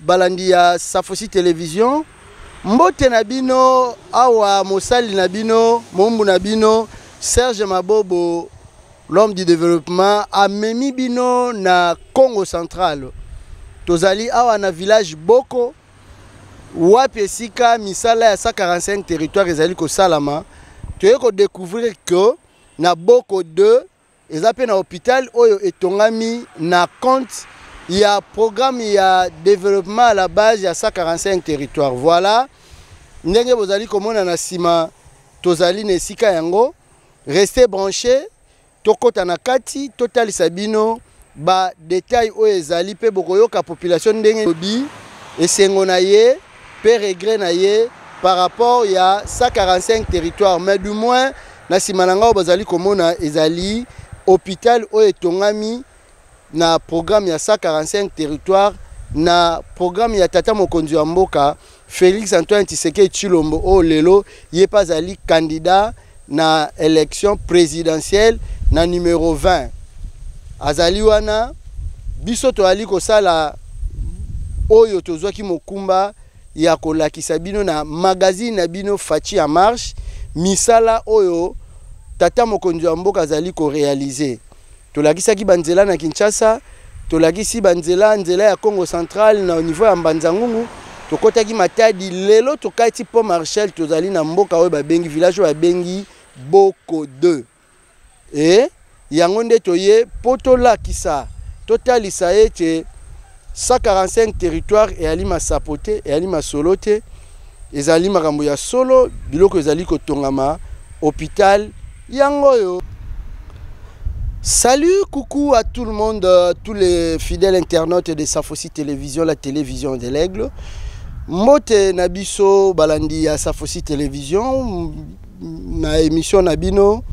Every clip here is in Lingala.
Balandi ya Safosi Television, mbote na bino awa mosali na bino, moumbu na bino Serge Mabobo l'homme du développement amemi bino na Congo central tozali awa na village Boko wapi esika misala ya 145 territoire ezali kosalama toyei kodécouvrir que na Boko 2 eza mpe na hopital oyo etongami na compte ya programme ya développement à la base ya 145 territoire voilà ndenge bozali komona na nsima tozali na esika yango reste branché tokɔta na kati totalisa bino badetail oyo ezali mpe bokoyoka population ndenge lobi esengo na ye pe regret na ye par rapport ya 145 territoire mais du moins na nsima na ngai bazali komona ezali hôpital oyo etongami na programme ya 145 territoire na programme ya tata mokonzi wa mboka Félix Antoine Tshisekedi Tshilombo oyo lelo ye mpe azali candidat na election presidentielle na numero 20 azali wana biso toyali kosala oyo tozwaki mokumba ya kolakisa bino na magazine na bino faci en marche misala oyo tata mokonzi ya mboka azali korealize Tolakisaki banzela na Kinshasa, tolakisi banzela nzela ya Congo central na niveau ya Mbanzangungu, tokotaki Matadi. Lelo tokati Pont Marshal, tozali na mboka oyo babengi village oyo babengi Boko 2 e yango nde toye mpo tolakisa totalisa ete 145 territoire eyali masapo te eyali masolo te ezali makambo ya solo biloko ezali kotongama hôpital yango oyo Salut, coucou à tout le monde, euh, tous les fidèles internautes de Safosi Télévision, la télévision de l'aigle. Mote Nabiso Balandi à Safosi Télévision, na émission Nabino.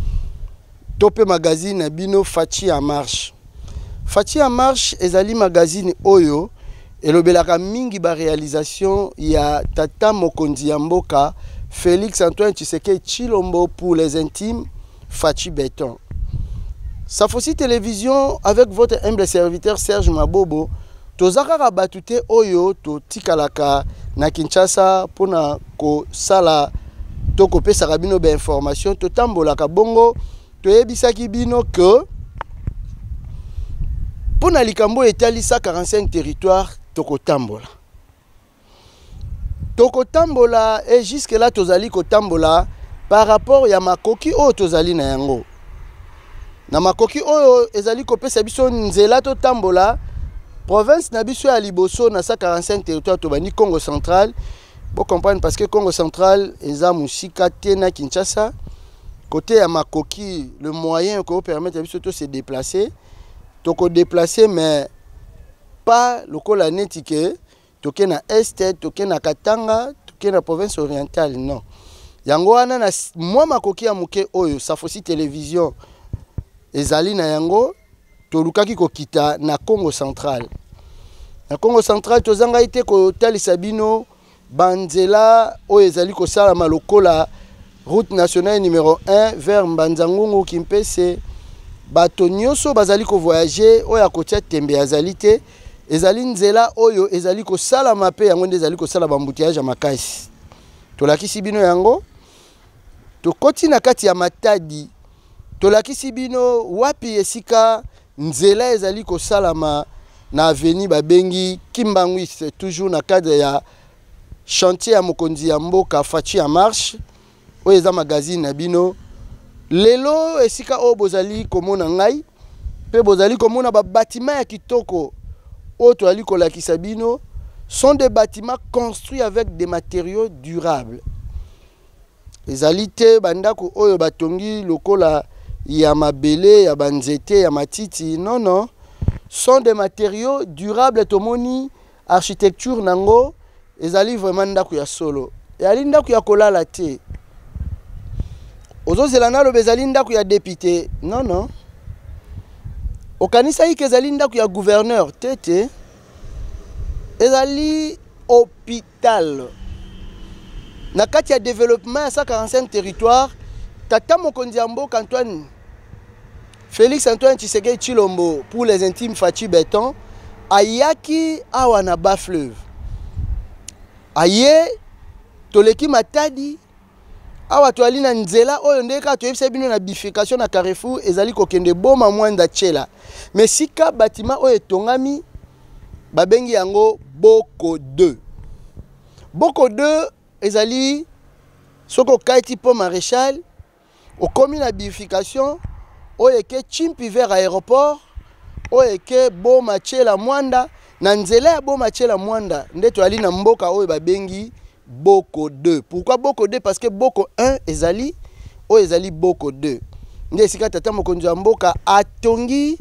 to pe magazine na bino Fatshi en marche. Fatshi en marche ezali magazine oyo elobelaka mingi ba realisation ya tata mokonzi ya mboka Felix Antoine Tshisekedi Chilombo pour les intimes Fatshi Beton. Safosi Télévision avec votre humble serviteur Serge Mabobo toza kaka batu te oyo totikalaka na Kinshasa pona kosala to kopesaka bino bainformation totambolaka bongo toyebisaki bino ke mpo na likambo oyo etali 145 territoire tokotambola tokotambola e jusque là tozali kotambola par rapport ya makoki oyo tozali na yango na makoki oyo ezali kopesa biso nzela totambola province na biso ya liboso na 145 territoire tobandi congo central Bo comprendre parce que Congo central eza musika te na Kinshasa. Côté ya makoki, le moyen ko permettre biso to se déplacer, to ko déplacer mais pas lokola neti que toke na est, toke na Katanga, toke na province orientale, non. Yango wana na mwa makoki ya moke oyo Safosi Television ezali na yango tolukaki kokita na congo central na congo central tozangai te kotalisa bino banzela oyo ezali kosalama lokola route nationale numero 1 vers mbanzangungu kimpese bato nyonso bazali kovoyage oyo akotia tembe azali te ezali nzela oyo ezali kosalama mpe yango nde ezali kosala bambuteyage ya makasi tolakisi bino yango tokoti na kati ya matadi Tolakisi bino wapi esika nzela ezali kosalama na avenue babengi Kimbanguiste toujours na cadre ya chantier ya mokonzi ya mboka Fatshi en marche oyo eza magazine na bino lelo esika oyo bozali komona ngai mpe bozali komona babatima ya kitoko oyo toyali kolakisa bino sont des bâtiments construits avec des matériaux durables Ezali te bandako oyo batongi lokola ya mabele, ya banzete, ya matiti. Non, non. Sont des materiaux durables. Tomoni architecture nango ezali vraiment ndako ya solo. Ezali ndako ya kolala te. Ozozela naloba ezali ndako ya depute. Non, non. Okanisaki ke ezali ndako ya gouverneur te te. Ezali hôpital Tal. Na kati ya developema ya 145 territoire, tata mokonzi ya mboka Antoine Felix Antoine Tshisekedi Tshilombo pour les intimes Fatshi Beton ayaki awa na bas fleuve aye toleki matadi awa toali na nzela oyo nde kaka toyebisa bino na bifurcation na carrefour ezali kokende boma mwanda chela ma esika batima oyo etongami babengi yango boko 2 boko 2 ezali soki okati mpo maréchal okomi na bifurcation oyo eke chimpi vers aéroport oyo eke boma chela mwanda na nzela ya boma chela mwanda nde toyali na mboka oyo babengi boko 2 pourquoi boko 2 parce que boko 1 ezali oyo ezali boko 2 nde esika tata mokonzi ya mboka atongi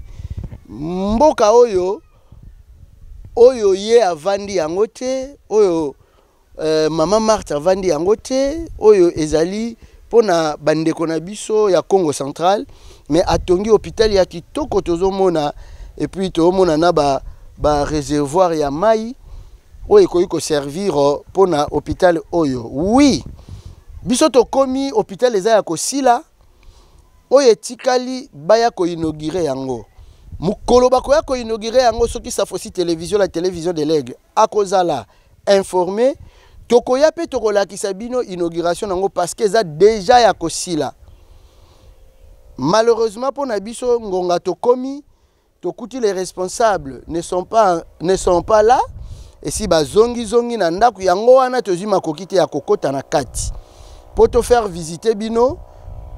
mboka oyo oyo ye avandi yango te oyo Euh, mama Marthe avandi yango te oyo ezali mpo na bandeko na biso ya Congo central mais atongi hôpital ya kitoko tozomona epuis toomona na ba, ba réservoir ya mai oyo ekoki koservir euh, mpo na hôpital oyo oui biso tokomi hôpital eza ya kosila oyo etikali baya koinaugure yango mokolo bakoya koinaugure yango soki safosi télévision la télévision de l'aigle akozala informer tokoya mpe tokolakisa bino inauguration nango parce que eza deja ya kosila malheureusement mpo na biso ngonga tokomi tokuti les responsables ne sont pas, ne sont pas là esi bazongizongi na ndako yango wana tozwi makoki te ya kokota na kati mpo tofaire visite bino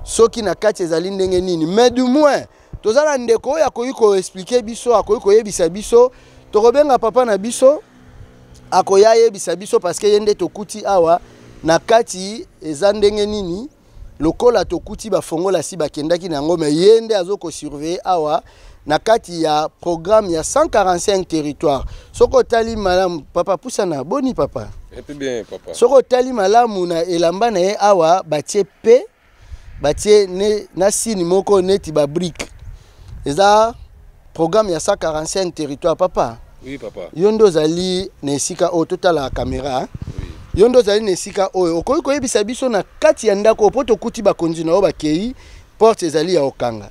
soki na kati ezali ndenge nini mais du moins toza na ndeko oyo akoki koexplike biso akoki koyebisa biso tokobenga papa na biso akoya ayebisa biso parceke ye nde tokuti awa na kati eza ndenge nini lokola tokuti bafongola si bakendaki na yango me ye nde azo kosurveille awa na kati ya programme ya 145 territoire soki otali malamu papa pusana boni papa soki otali malamu na elamba na ye awa batie pe batie ne, na sini moko neti babrike eza programme ya 145 territoire papa oui, papa yo nde ozali na esika oyo totala kamera oui. yo nde ozali na esika oyo okoki koyebisa biso na kati ya ndako oyo mpo tokuti bakonzi na yo bakei porte ezali ya okanga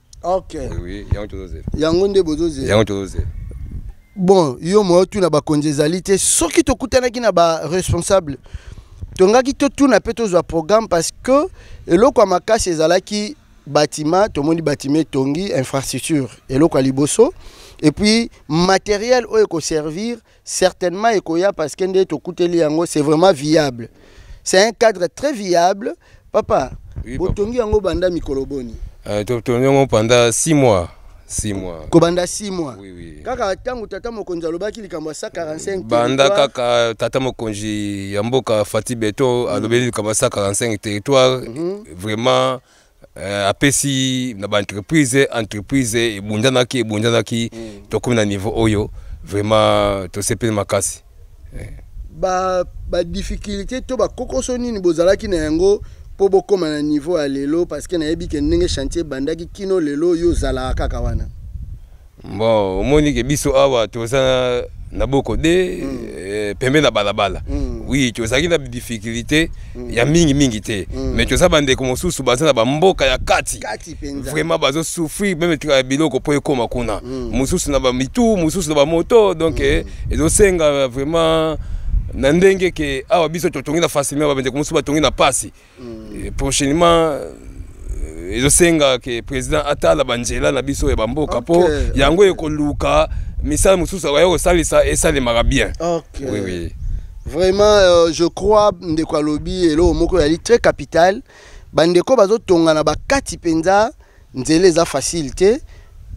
ok oui yango tozozela yango nde bozozela yango tozozela bon yo moyo tuna bakonzi ezali te soki tokutanaki na baresponsable tongaki totuna mpe tozwa programme parce que eloko ya makasi ezalaki batima tomoni batima etongi infrastructure eloko ya liboso epuis materiel oyo ekoservir Certainement ekoya parce que nde tokuteli yango c'est vraiment viable. C'est un cadre très viable. Papa, oui, botongi yango banda mikolo boni? Euh, totongi yango pendant 6 mois. 6 mois. Kobanda 6 mois. Oui, oui. Kaka tango tata mokonzi alobaki likambo ya 145 Banda kaka tata mokonzi ya mboka Fatih Beton alobeli likambo ya 145 territoire. Mm -hmm. Vraiment Euh, apesi na baentreprise entreprise ebundanaki ebundanaki mm. tokomi na niveau oyo vraiment tosepeli makasi eh. badifficulté ba to bakokoso nini bozalaki na yango mpo bokóma na niveau ya lelo parce que nayebi ke ndenge chantier ebandaki kino lelo yo ozalaka kaka wana bon omoni ke biso awa toza na boko de mm. eh, pembe na balabala mm. oui tozalaki na difficulté mm. ya mingi mingi te mm. mais toza bandeko mosusu baza na bamboka ya kati vraiment bazosouffrir meme tika biloko mpo ekóma kuna mm. mosusu na bamitu mosusu na bamoto donc mm. eh, ezosenga vraiment na ndenge ke awa biso totongi na facilement babendeko mosusu batongi na mpasi mm. prochainement euh, ezosenga ke président atala banzela na biso ya bamboka okay. po yango ekoluka misala mosusu akoya kosalisa esalemaka bien okay. oui, oui. vraiment euh, je crois ndeko alobi eloko moko yali très capital bandeko bazotongana bakati mpenza Nzela eza facile te.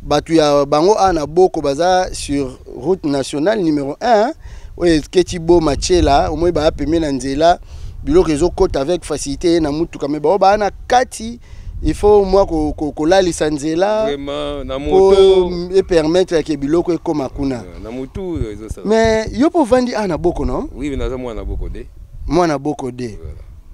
Batu ya bango a na boko baza sur route nationale numero 1 oyo eketi bo machela omoi baa pembe na nzela biloko ezokota avec facilité ye na mutuka me bao baa na kati il faut mwa kolalisa nzela po epermettre yake biloko ekoma kuna mais yo mpo ovandi a na boko no mwana boko de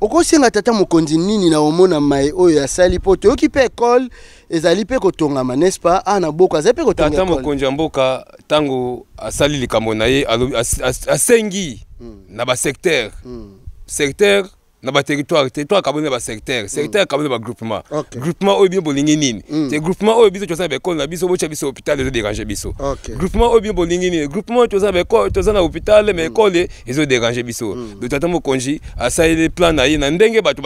okosenga tata mokonzi nini na omona mai oyo asali mpo toyoki mpe ekole ezali mpe kotongama n'est-ce pas a na boko azali mpe kotonga tata ekole. mokonzi ya mboka ntango asali likambo na ye alobi- as- as- asengi Mm. na basecteur Mm. secteur na baterritoire territoire akaboli na basecteur secteur akaboli na bagroupement Ok. groupement oyo bino bolingi nini Mm. te groupement oyo biso toza na baekole na biso botya biso hôpital ezo dérange biso Ok. groupement oyo bino bolingi nini groupement oyo toza na baekole toza na hôpital mais ekole ezo déranger biso mm. doto ata mokonzi asaleli plan na ye na ndenge bato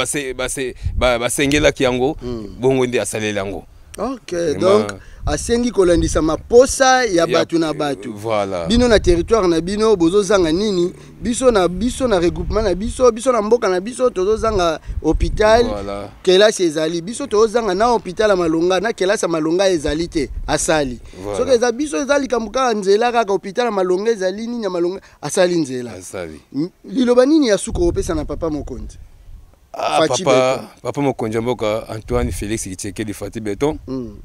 basengelaki yango mm. bongo nde asaleli yango ok donc asengi kolandisa maposa ya bato na bato voilà. bino na territoire na bino bozozanga nini biso na biso na regroupement na biso biso na mboka na biso tozozanga hôpital voilà. kelasi ezali biso tozozanga na hôpital ya malonga na kelasi ya malonga ezali te asali voilà. soki eza biso eza likambo kaka nzela kaka hôpital ya malonga ezali nini ya malonga asali nzela asali M- liloba nini ya suka opesa na papa mokonzi ah, Fatshi papa, papa mokonzi ya mboka antoine félix kitshekedi fati beton Mm,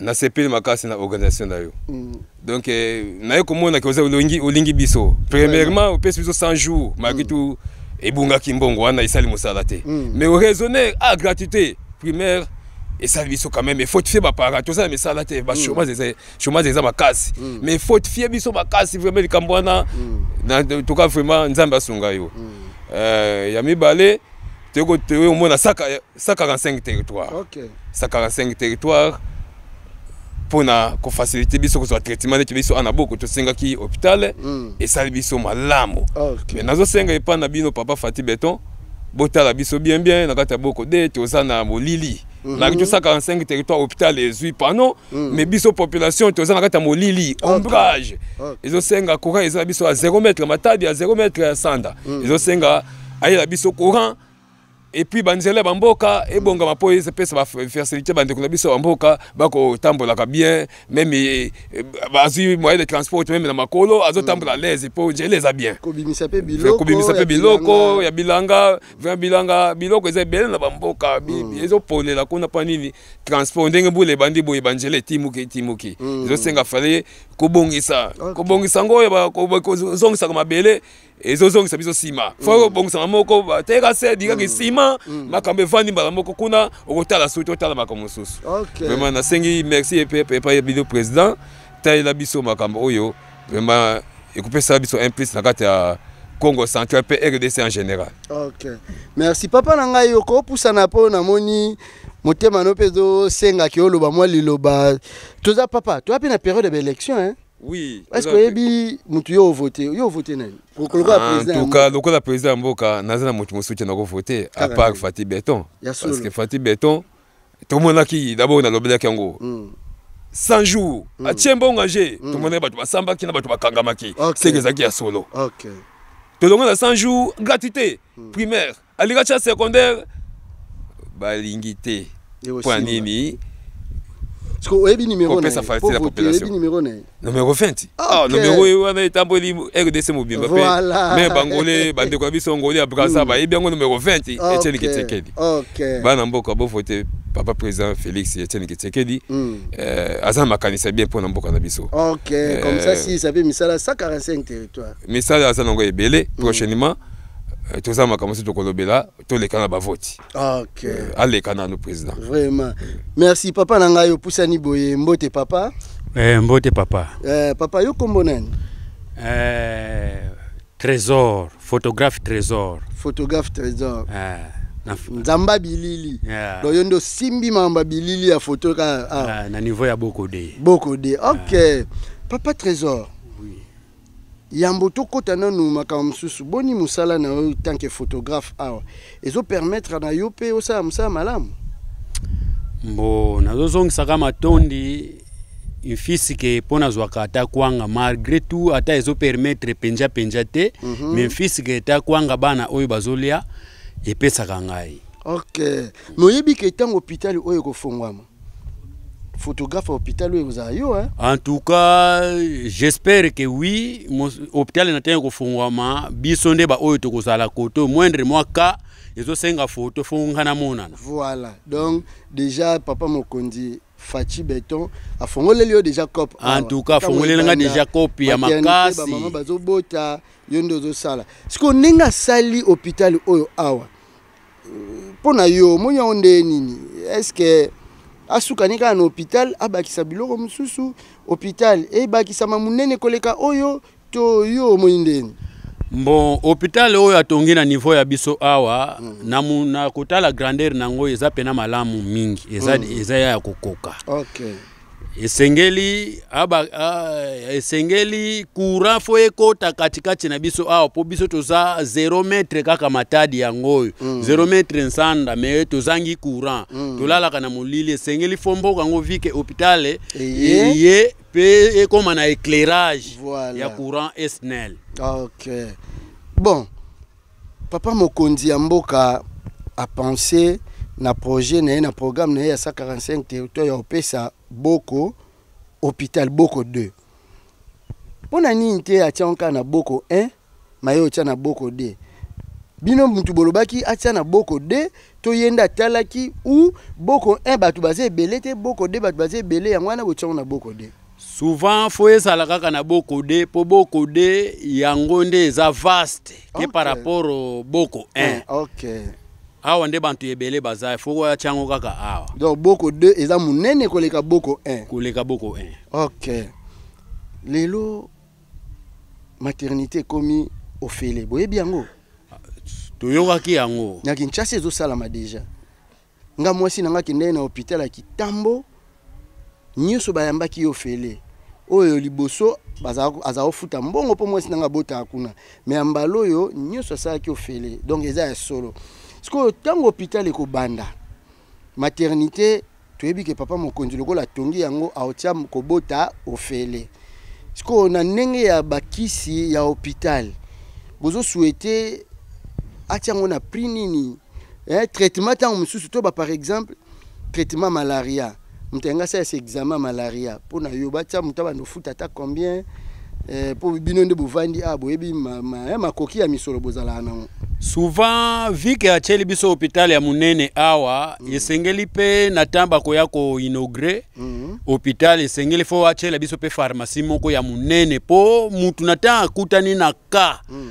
nasepeli makasi na organisation na yo mm. donc eh, naye komona ke oza olingi, olingi biso premièrement opesi biso 100 jours malgré tout ebungaki mbongo wana esali mosala te Mm. mais oraisonner a gratuité primaire esali biso quand même efortifie baparent toza na misala te bachômage eza chômage eza makasi mm. mais faut fie biso makasi vraiment likambo wana mm. toka vraiment nzambe asunga yo mm. euh, ya mibale toyei omona 145 territoire 145 territoire mpona kofacilite biso kozwa traitement neti biso ana boko tosengaki hôpital mm. esali biso malamu okay. mais nazosenga epai na bino papa fati beton botala biso bien bien na kati ya boko de toza na molili Mhm. na biso 145 territoire hôpital ezwi pano mhm. mais biso population toza na kati ya molili ombrage ezosenga courant eza na biso ya 0 mètre matabi ya 0 mètre ya sanda mhm. ezosenga ayela biso courant epuis banzela ya bamboka ebongama mpo epesa bafasilité bandeko na biso ya bamboka bakotambolaka bien meme eh, eh, bazwi moyen de transport meme na makolo azotambola mm. alaise mpo njela eza bien kobimisa mpe biloko ya bilanga Vin bilanga biloko eza ebele na bamboka mm. ezoponela kuna mpo nini transport ndenge mbula ebandi boye banzela etimuki etimuki mm. ezosenga fale kobongisa okay. kobongisa yango oyo kozongisaka mabele ezozongisa biso nsima fo mm. obongisaka moko bateka se dikaki mm. nsima mm. makambo evandi mbala moko kuna okotala suki otala makambo mosusu vraimen nasengi merci epai ya bino président talela biso makambo oyo vraiment ekopesa biso un plus na kati ya congo central mpe rdc en général ok merci papa na ngai okopusana mpo namoni motema no mpe ezosenga ke oloba mwa liloba toza papa toza mpe na période ya baélection hein? oui est ce que oyebi motu yo ovote yo ovote nani lokola lokola président ya mboka naza na motu mosusu te nakovote à part fati beton parce que fati beton tomonaki dabord nalobelaki yango mm. 100 jours mm. atie mbongo age mm. tomonaki bato basambaki na bato bakangamaki okay. seke ezalaki ya solo okay. tolongo na 100 jours gratuité mm. primaire alinga tia secondaire balingi te mpo ya nini kopesa facilité ya population nomero 20 ah, okay. nomero oyo wana etamboli rdc mobimba mpe voilà. me bangole bandeko na biso ngoli ya brasa mm. bayebi yango nomero 20 okay. etieni kitekedi okay. bana mboka bovote papa président félix etieni kitekedi mm. eh, aza na makanisi ya bien mpo na mboka na biso okay. eh, comme ça si sape misala 145 territoire misala aza nango ebele mm. prochainement eh, toza makambo mosusu tokolobela toleka na bavoti okay. euh, aleka nanu président vraiment merci papa na ngai opusani boye mbote papa eh, mbote papa eh, papa yo kombo nani eh, trésor photographe trésor photographe trésor eh. nzamba bilili yeah. donc yo nde osimbi mamba bilili ya foto ka ah. ah, na niveau ya bokode bokode ok yeah. papa trésor Yambo tokota nanu makambo mosusu, boni mosala na yo tant que photographe awa ezo permettre na yo mpe osala mosala malamu? Mbo nazozongisaka matondi mfisike mpo nazwaka ata kwanga malgré tout ata ezo permettre mpenja mpenja te mm -hmm. mais mfisike ata kwanga bana oyo bazolia epesaka ngai ok moyebi ke ntango hôpital oyo ekofongwama photographe ya hôpital oyo ekozala yo hein? en tout cas j'espère que oui hôpital na ntango ekofungwama biso nde baoyo tokozala kote moindre mwa cas ezosenga foto fo ngai namonana voilà donc déjà papa mokonzi faci beton afongoleli yo déjà cope en tout cas afongoleli ngai déjà cope ya makasi bamama bazobota yo nde ozosala sikoyo ndenge asali hôpital oyo awa mpo na yo omoni yango nde nini estce asukani kaka na hôpital abakisa biloko mosusu hôpital ebakisama monene koleka oyo to yo omoni ndeni bon hôpital oyo atongi na niveau ya biso awa mm. na, mu, na kotala grandeur na yango eza mpena malamu mingi eza, mm. eza ya kokoka okay. esengeli aba, a, esengeli courant fo ekota katikati na biso awa mpo biso toza 0 metre kaka matadi yango oyo mm. 0 metre nsanda me tozangi courant mm. tolalaka na molili esengeli fo mboka yango vike hopitale eye mpe ekóma na éclairage voilà. ya courant esnel okay. bon Papa mokonzi ya mboka a penser na projet na ye na programme na ye ya 145 territoire ya opesa boko hôpital boko 2 mpo na nini te atya nka na boko 1 maye otya na boko 2 bino mutu bolobaki atya na boko 2 to ye nde atalaki u boko 1 bato baza ebele te boko 2 bato baza ebele yango wana botyango na boko 2 souvent faut ezala kaka na boko de po boko de yango nde eza vaste ke par rapport au boko 1 eh, okay. awa nde bantu ebele baza faut koya tiango kaka awa donc boko 2 eza munene koleka boko 1 koleka boko 1 okay lelo maternité ekomi ofele boyebi yango toyokaki yango na kinshasa ezosalama deja nga mwasi na nga kendaki na hopital ya kitambo nyonso bayambaki yo fele oyo liboso aza kofuta mbongo mpo mwasi na nga abotaka kuna me ya mbala oyo nyonso asalaki ofele donc eza ya solo sikoyo ntango hopital ekobanda maternité toyebi ke papa mokonzi lokola atongi yango aotya kobota ofele sikoyo na ndenge ya bakisi ya hopital bozosuete atya yango na prix nini eh, traitement ntango mosusu to ba par exemple traitement malaria moto yanga asala se examen malaria mpo na yo batya moto abanda ofuta ata combien eh, mpo bino nde bovandi a ah, boyebi eh, makoki ya misolo bozalaka nango souvent vike atyeli biso hôpital ya monene awa mm. esengeli mpe na ntango bakoya koinaugure mm. hôpital esengeli fo atyela biso mpe pharmacie moko ya monene mpo motu na ntango akutani na ka mm.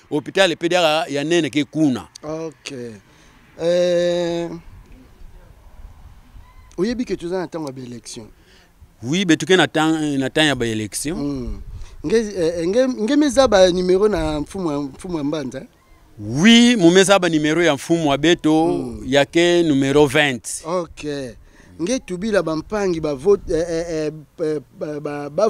hôpital mpe diaka ya nene ke kuna ok eh, oyebi ke toza na ntango ya baélection oui betuke na temps na temps ya baélection mm. nge, eh, nge, nge meza ba numero na mfumu mfumu ya mbanza eh? oui mumeza ba numero ya mfumu ya beto mm. yake numero 20 ok nge tubila bampangi bavote eh, eh, eh, eh, ba, ba, ba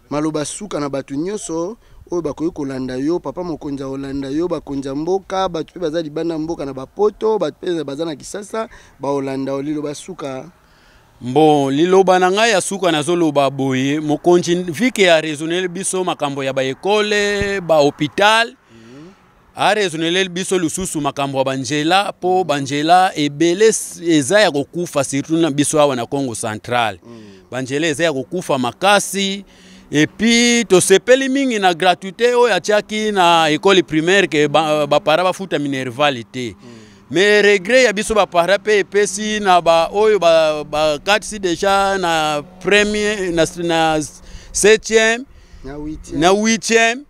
Maloba suka na bato nyonso oyo bakoki kolanda yo papa mokonzi akolanda yo bakonzi ya mboka bato mpe baza libanda ya mboka na bapoto bato mpe baza na kisasa bakolanda yo liloba suka Bon, liloba na ngai ya suka nazoloba boye mokonzi vike ya raisonner biso makambo ya baekole bahopital mm -hmm. aresoneleli biso lisusu makambo ya banjela mpo banjela ebele eza ya kokufa surtout na biso awa na congo central mm. banjela eza ya kokufa makasi epuis tosepeli mingi na gratuité oyo atiaki na ekole primaire ke bapara ba bafuta minervale te mm. mais regret ya biso bapara mpe epesi na baoyo bakatisi ba deja na premier na, na septième na huitième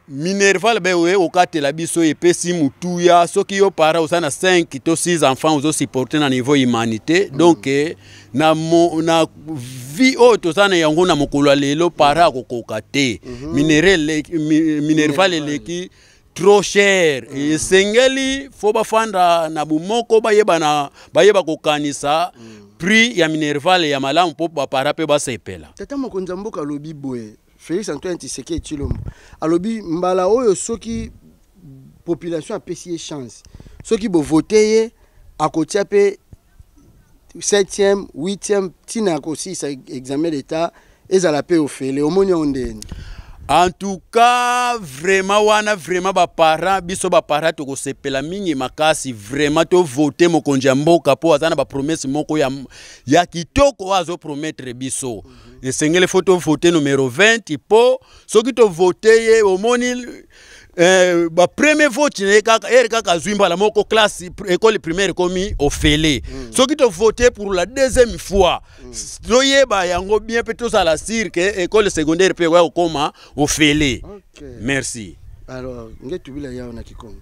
minerval be oye okatela biso epesi motuya soki yo para oza na 5 to 6 enfants ozosupporte na niveau humanité mm. donc eh, na, mo, na vie oyo toza na yango na mokolo ya lelo para akokoka te mm -hmm. mineral, mi, minerval eleki trop cher mm. esengeli fo bafanda na bomoko bayebana bayeba kokanisa mm. prix ya minerval ya malamu mpo bapara mpe basepela tata mokonzi ya mboka alobi boye Felix Antoine Tshisekedi Tshilombo alobi mbala oyo soki population apesi ye chance soki bovote ye akotia mpe 7e 8e ntina ya kosilisa examen d'etat ezala mpe ofele omoni yango ndeni en tout cas vraiment wana vraiment baparent biso baparent tokosepela mingi makasi vraiment tovote mokonzi ya mboka mpo aza na bapromese moko ya, ya kitoko oyo azopromettre biso mm. esengeli fo tovote numero 20 mpo soki tovote ye omoni eh, bapremier vote na ye kaka ere kaka azwi mbala moko classe ekole primaire ekomi ofele mm. soki tovote pour la deuxième fois mm. toyeba yango bien mpe tozala sire ke ekole secondaire mpe ekoya kokoma ofele okay. merci alors ngetu bila yawo na kikongo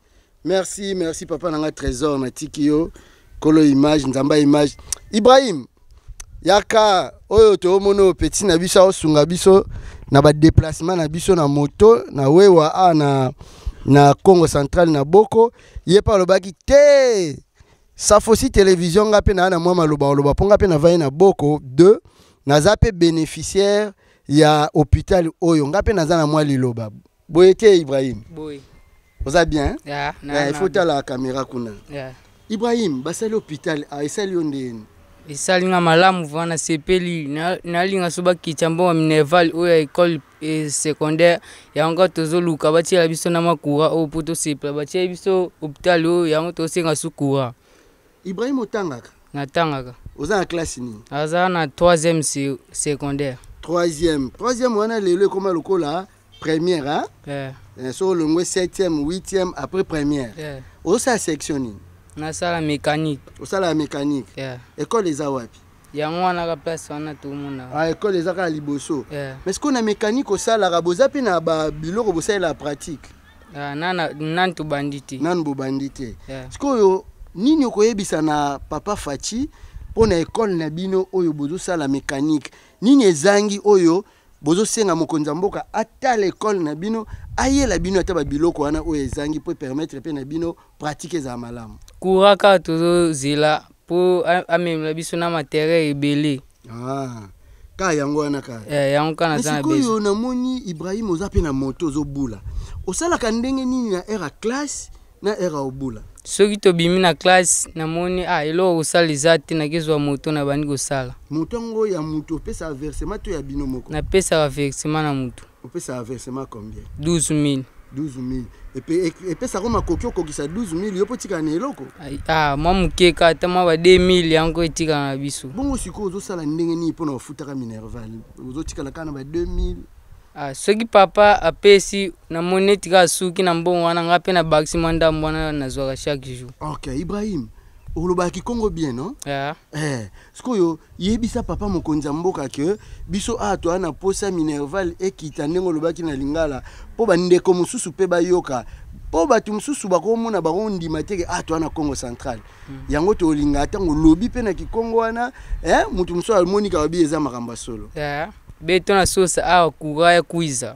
merci merci papa na ngai trésor natiki yo kolo image nzamba image ibrahim yaka oyo toomona oyo petit na biso aosunga biso na badeplacement na biso na moto na wewa a na, na congo central na boko ye mpe alobaki te safosi television nga mpe naa na mwa maloba oloba mpo nga mpe navai na boko 2 naza mpe bénéficiaire ya hôpital oyo nga mpe naza na mwa liloba boye te ibrahim boye oza bien hein? yeah, nah, eh, il faut tala caméra kuna yeah. ibrahim basali hôpital ah, esali yo ndeni esali nga malamu vraimen nasepeli nalinga so bakitya mbongo minerval oyo ya école eh, secondaire yango kaka tozoluka batiela biso na makura oyo mpo tosepela batieli biso hôpital oyo yango tosenga su courant Ibrahim otangaka? Natangaka. Oza na classe nini? Aza na 3e secondaire. 3e. 3e wana lelo ekoma lokola première hein? Yeah. Eh, so olongwe 7e, 8e après première. Yeah. Osa section nini? Nasala mécanique. Osala mécanique. Yeah. École eza wapi? yango wana ka place wana tomona ah, ekole eza kaka liboso yeah. mais sikoyo na mécanique osalaka boza mpe na babiloko bosalela pratique Ah, nana nani tobandi te nani bobandi te Yeah. sikoyo nini okoyebisa na papa faci mpo na ekole na bino oyo bozosala mécanique nini ezangi oyo bozosenga mokonzi ya mboka atala ekole na bino ayela bino ata babiloko wana oyo ezangi mpo epermettre mpe na bino pratique ezala malamu kura kaka tozozela mpo a- amemela biso na materia ebele Ah, ka yango wana ka eh, yango ka naza na besoin sikoyo namoni ibrahim oza mpe na moto ozobula osalaka ndenge nini na heure ya classe na heure ya obula soki tobimi na classe namoni ah, eloko kosala eza te nakezwa moto na bandi kosala moto yango ya moto opesaka versement to ya bino moko napesaka versement na moto opesa versement combien 12000 12000 epesa ko makoki okokisa 12000 yo mpo otikala na eloko ah, mwa moke ka ata mwa ba 2000 yango etikala na biso bongo sikoyo ozosala ndenge nini mpo na ofutaka minerval ozotikala kaka na ba 2000 Ah, soki papa apesi namoni neti kaka suki na mbongo wana ngai mpe nabakisi mwa ndambo wana nazwaka chaque jour ok ibrahim olobaka kikongo bien no yeah. eh, sikoyo yebisa papa mokonzi ya mboka ke biso awa toya na posa minerval ekita ndenge olobaki na lingala mpo bandeko mosusu mpe bayoka mpo bato mosusu bakomona bango ndima teke ah toa na congo central mm. yango tolinga ntango lobi mpe na kikongo wana eh, moto mosusu amoni kaka bi eza makambo ya solo yeah. beto na sosa awa kura ya kuiza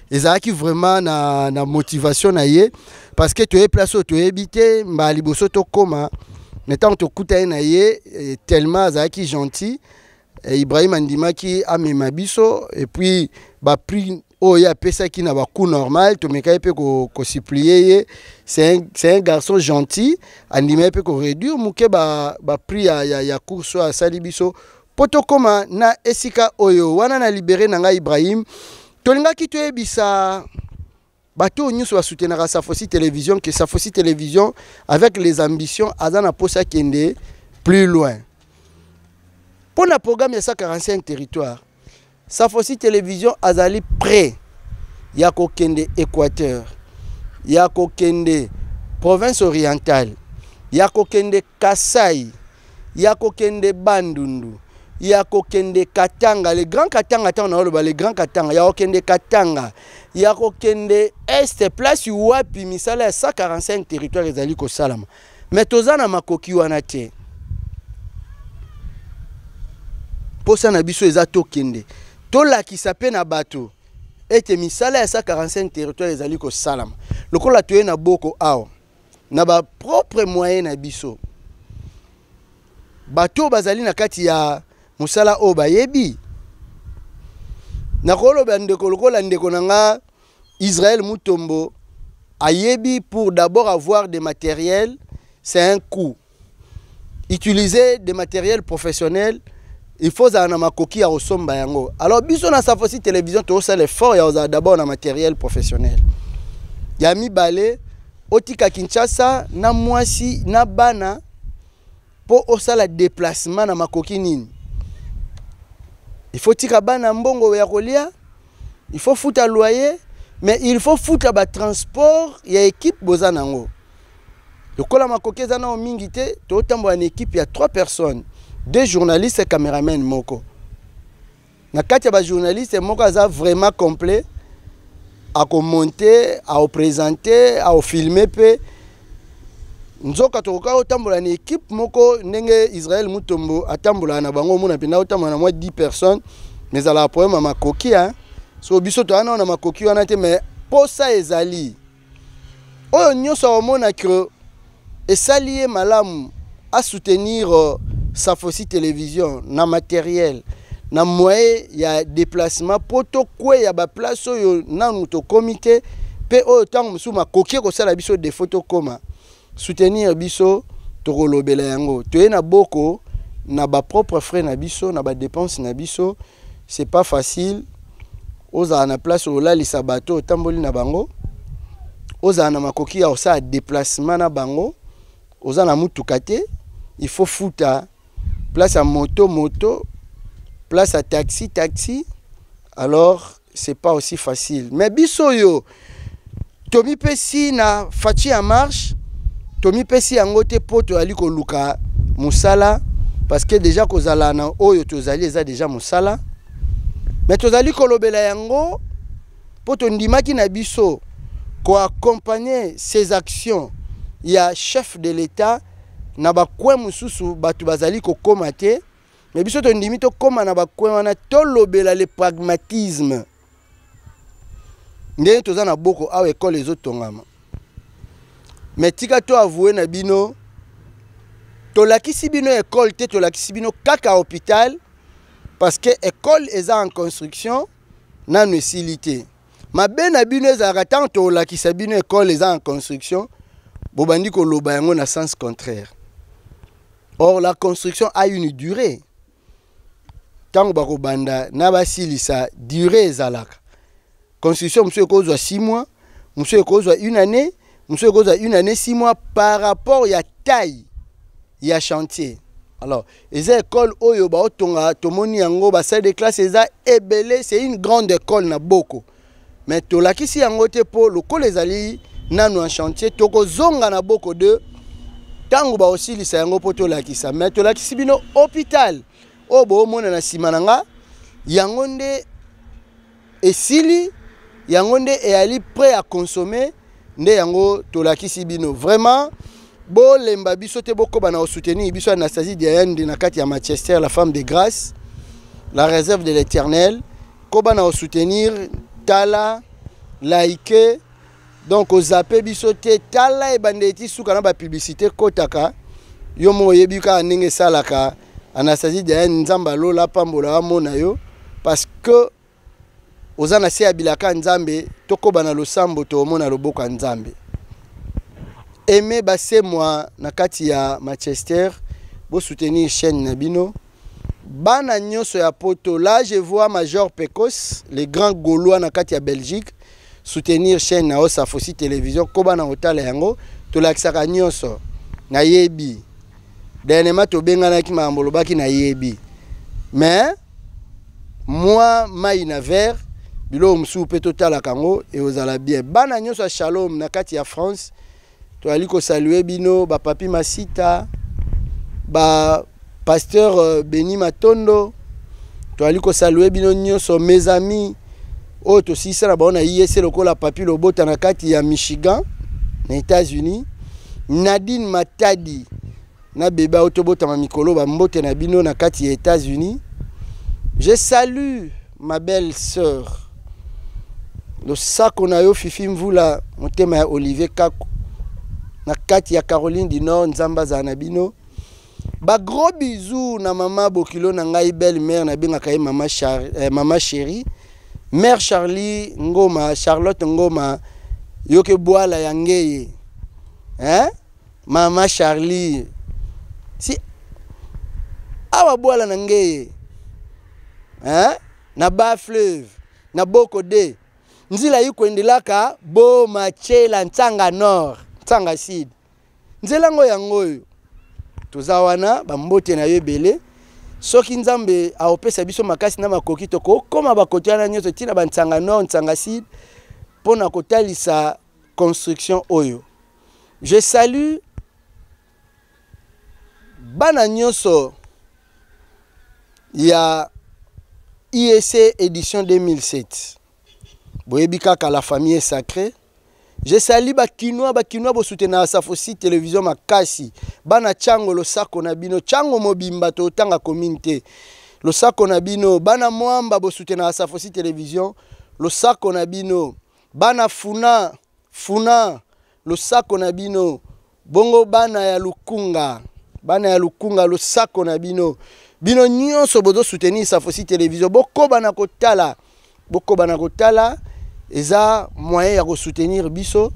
ezalaki vraiment na, na motivation na ye parce que toyebi place oyo toyebi te mbala liboso tokóma na ntango tokutani na ye eh, tellement azalaki gentil eh, ibrahim andimaki amema biso epuis baprix oyo ye apesaki na bacout normal tomekaki mpe kosuplie ko ye c'est un garçon gentil andimaki mpe koréduire moke baprix ba ya, ya, ya course oyo asali biso Mpo tokoma na esika oyo wana na libere na ngai Ibrahim, tolingaki toyebisa bato oyo nyonso basutenaka Safosi Television que Safosi Television avec les ambitions aza na mposa akende plus loin. Mpo na programme ya 145 territoire Safosi Television azali près ya kokende Equateur, ya kokende province orientale, ya kokende Kasai, ya kokende Bandundu, ya kokende Katanga, le grand Katanga tango na oloba le grand Katanga, ya kokende Katanga, ya kokende Est place wapi misala ya 145 territoire ezali kosalama. mais toza na makoki wana te mposa na biso eza tokende tolakisa mpe na bato ete misala ya 145 territoire ezali kosalama lokola toye na boko awa na bapropre moyen na biso bato oyo bazali na kati ya mosala oyo bayebi nakolobela ndeko lokola ndeko na nga Israël Mutombo ayebi pour d'abord avoir des matériels, c'est un coût. Utiliser des matériels professionnels, il faut ozala na makoki ya kosomba yango. Alors biso na Safosi Télévision tosala effort ya kozala d'abord na matériel professionnel. Ya mibale otika Kinshasa na mwasi na bana mpo osala déplacement na makoki nini? Il faut tika bana mbongo ya kolia il faut futa loyer mais il faut futa ba transport ya équipe boza nango lokola makoki eza nao mingi te totambola na équipe ya 3 personnes deux journalistes cameraman moko na kati ya bajournaliste moko aza vraiment complet akomonte aopresente aofilme mpe nzoka tokoka otambola na ekipe moko ndenge israel mutombo atambolaka na bango omona mpenza otambola na mwa 10 personnes mais ezalaka problème ya makoki hein? so biso toya nao na makoki wana te mais mposa ezali oyo nyonso akomona ke esali ye malamu A soutenir euh, sa fausse télévision na matériel na moyen ya déplacement mpo tokweya baplace oyo nanu tokomi te mpe oyo ntango mosusu makoki ekosala biso defo tokoma soutenir biso tokolobela yango toye na boko na bapropre frais na biso na badepense na biso c'est pas facile ozala na place olalisa bato otamboli na bango ozala na makoki ya kosala déplacement na bango oza na mutuka te il faut futa place à moto moto place à taxi taxi alors c'est pas aussi facile mais biso yo tomipesi na faci ya marche tomipesi yango te mpo toyali koluka mosala parce que déjà kozala na oyo tozali eza déjà mosala mais tozali kolobela yango mpo tondimaki na biso koaccompagner ces actions ya chef de l'etat na bacoin mosusu bato bazali kokoma te me biso tondimi tokóma na bacoin wana tolobela le pragmatisme ndenge toza na boko awa ekole ezotongama me tika to avoue na bino tolakisi bino ekole te tolakisi bino kaka hôpital parce que ekole eza en construction nanu esili te mabe na bino ezalaka ntango tolakisa bino ekole eza en construction bobandi koloba yango na sens contraire or la construction a une durée ntango bakobanda na basilisa durée ezalaka construction mosusu ekozwa 6 mois mosusu ekozwa une année mosusu ekozwa une année six mois par rapport ya taille ya chantier alors eza école oyo baotonga tomoni yango basalle de classe eza ebele c'est une grande école na boko mais tolakisi yango te mpo lokola ezali nanu en chantier tokozonga na boko 2 ntango baosilisa yango mpo tolakisa mais tolakisi bino hôpital oyo boomona na nsima na nga yango nde esili yango nde eyali prêt à consommer nde yango tolakisi bino vraiment bolemba biso te bokoba na osoutenir biso anastasie diayande na kati ya manchester la femme de grâce la réserve de l'éternel koba na osoutenir tala like donc ozape biso te tala ebandeli ti suka na bapublicité kotaka yo moko oyebi kaka ndenge esalaka anastasie diane nzambe alola apambola amona yo parce que oza na se ya bilaka ya nzambe tokoba na losambo toomona loboko ya nzambe aime basemwa na kati ya manchester bosoutenir chaîne na bino bana nyoso ya poto là je vois major pecos le grand gaulois na kati ya belgique soutenir chaîne na yo safosi télévision koba na kotala yango tolakisaka nyonso nayebi dernièrement tobenganaki makambo olobaki nayebi mais mwa mai na vert biloko mosusu mpe totalaka yango ekozala bien bana nyonso ya shalom na kati ya france toyali kosalue bino bapapi masita bapasteur euh, beni matondo toyali kosalue bino nyonso mes amis oyo tosilisa na bango na iese e lokola papi lobota na kati ya michigan na états-unis nadine matadi na bebe auti obotama mikolo bambote na bino na kati ya états-unis je salue ma belle sœur losako na yo fifi mvula motema ya olivier kako na kati ya caroline du nord nzambe azala na bino bagros bisou na mama bokilo na ngai belle mare nabengaka ye mama, char, eh, mama chérie mare charlie ngoma charlotte ngoma yoke bwala ya ngeye eh? Mama Charlie si awa bwala na ngeye hein? na ba fleuve na boko de nzela ikwendelaka bo machela ntsanga nord ntsanga sud nzela ngo yango oyo toza wana bambote na yo ebele soki nzambe aopesa biso makasi na makoki tokokoma bakoto wana nyonso ntina bantsanga nord ntsanga sud mpo na kotalisa construction oyo Je salue bana nyonso ya IEC édition 2007. Boyebi kaka la famille est sacrée. Je salue ba kinois, ba kinois bo soutenir Safosi télévision makasi. Bana chango lo sako na bino, chango mobimba to tanga commune te. Lo sako na bino, bana mwamba bo soutenir Safosi télévision, lo sako na bino. Bana funa Funa losako na bino. Bongo bana ya Lukunga, bana ya Lukunga, losako na bino. Bino nyonso bozo soutenir Safosi Television, bokoba na kotala, bokoba na kotala, eza moyen ya ko soutenir biso.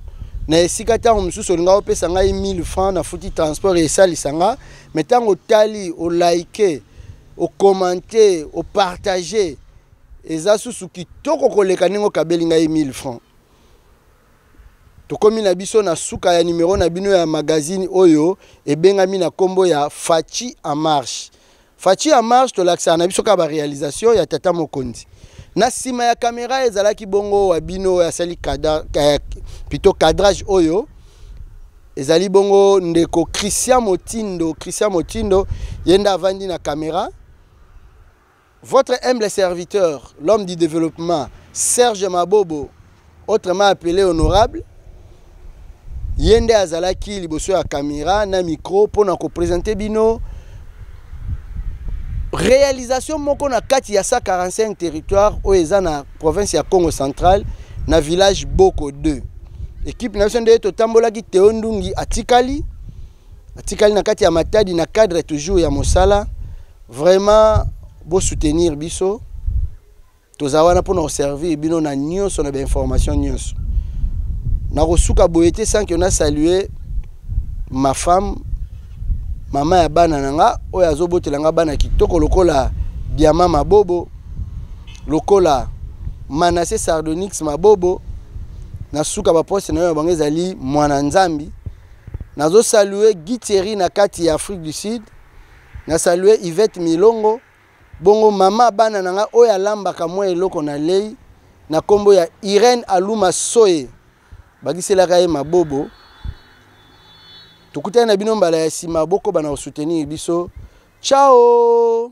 na esika ntango mosusu olinga opesa ngai 1000 francs nafuti transport esalisa nga me ntango otali olaike okomante opartage eza susu kitoko koleka ndenge okabeli ngai 1000 francs tokomi na biso na suka ya numero na bino ya magazine oyo ebengami na kombo ya Fatshi en marche Fatshi en marche tolakisaka na biso kaka ba réalisation ya tata mokonzi na sima ya kamera ezalaki bongo wa bino oyo asali eh, pito cadrage oyo ezali bongo ndeko christian motindo christian motindo ye nde avandi na kamera Votre humble serviteur, l'homme du développement, Serge Mabobo, autrement appelé honorable, ye nde azalaki liboso ya kamera na micro mpo na kopresente bino réalisation moko na kati ya 145 territoire oyo eza na province ya congo central na village boko 2 ekipe na biso nde totambolaki teo ndungi atikali atikali na kati ya matadi na cadre toujours ya mosala vraiment bosoutenir biso toza wana mpona koservir bino na nyonso na bainformation nyonso nakosuka boye te sanke na salue ma femme mama ya bana na nga oyo azobotela nga bana kitoko lokola diama mabobo lokola manase sardonix mabobo na suka baposte na yo ya bango ezali mwana nzambi Nazo saluer Guy Thierry na kati ya Afrique du Sud. Na saluer Yvette Milongo. Bongo mama bana na nga oyo alambaka mwa eloko na lei na kombo ya Irène Aluma Soye. Bakiselaka ye mabobo. Tokutani na bino mbala ya sima boko bana ko soutenir biso. Ciao!